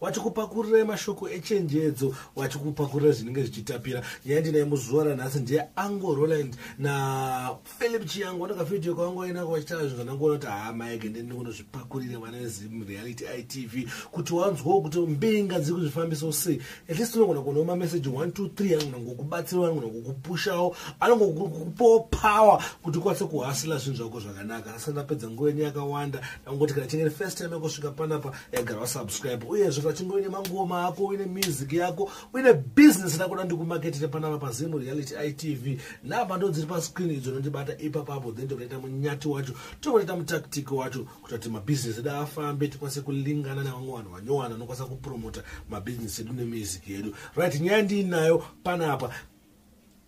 wachikupakurira mashoko echenjedzo wachikupakurira zvinenge zvichitapira nyaya ndinaye muzuva ranhasi ndiye ango roland naphilip chiyango ndakafidio kwangu ainako vachitaura zvinhu zvandangoona kuti haa maege ndini kunozvipakurira vana vezim reality itv kuti wanzwawo kuti mbinga dziri kuzvifambiso sei at least unogona kuonawo mameseji 123 anogona kukubatsirawo anogona kukupushawo anogona kukupawo power kuti ukwanise kuhasila zvinhu zvako zvakanaka asi ndapedza nguva yenyu yakawanda ndangoti kana chingeri first time yakusvika panapa egara wasubscribe uyezve vachinge uine mangoma ako uine music yako uine business rakuda ndikumaketire panapa pazimu reality itv namba ndo dziri pascreen idzo nondibata ipapapo then tokaita munyati wacho tokaita mutactic wacho kuita kuti mabusiness edu afambe tikwanise kulingana nevamwe vanhu vanyowana anokwanisa kupromota mabusiness edu nemusic yedu right nyaya ndiinayo panapa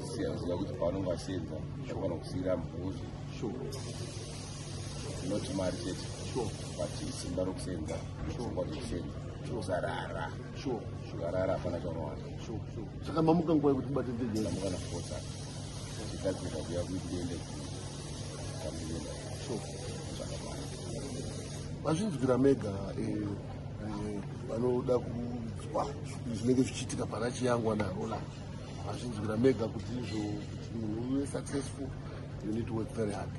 Sisi aziva kuti pavanonge vasenza vafanira kusiira mhuri not mari chete but simba rokusenza pfungwa dzekusenza usarara ukarara hapana chaunowana saka mamuka nguva yekuti bateteamuka nafosa chigadzirika kuya kuitende kamuyenda zvakamara vazvinzwira mega eh, eh, vanoda kunzwa zvinenge zvichiitika pana chiyangwa naro la hazvinzwira mega kuti izvo kuti munhu uve successful you need to work very hard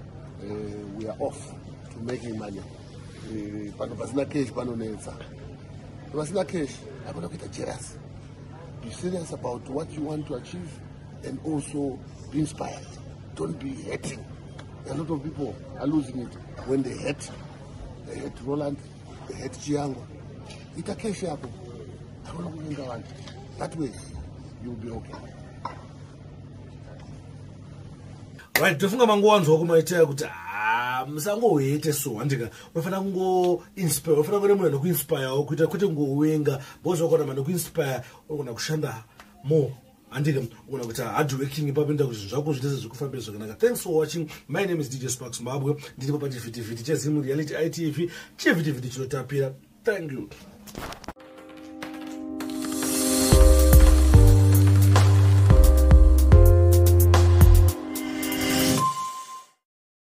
uh, we are off to making money uh, pano pasina cash panonetsa pasina cash hakuda kuita jerasi be serious about what you want to achieve and also be inspired don't be hating a lot of people are losing it when they hate they hate roland head chiyangu ita cash yako hauna kuvinga vanhu that way you will be okay right ndofunga mangowanzwa kumaitira kuti ah, musangohete so handika unofanira kungoinspire unofanira kuve munhu anokuinspirewo kuita kwete ngowenga bozvakona manokuinspire unogona kushanda more handike kuona kuti hardworking ipapo enda kuti zvinhu zvako zvitese zvekufambira zvakanaka thanks for watching my name is dj spark zimbabwe ndiripo pachivhitivhiti chezimu reality itv chivhitivhiti chinotapira thank you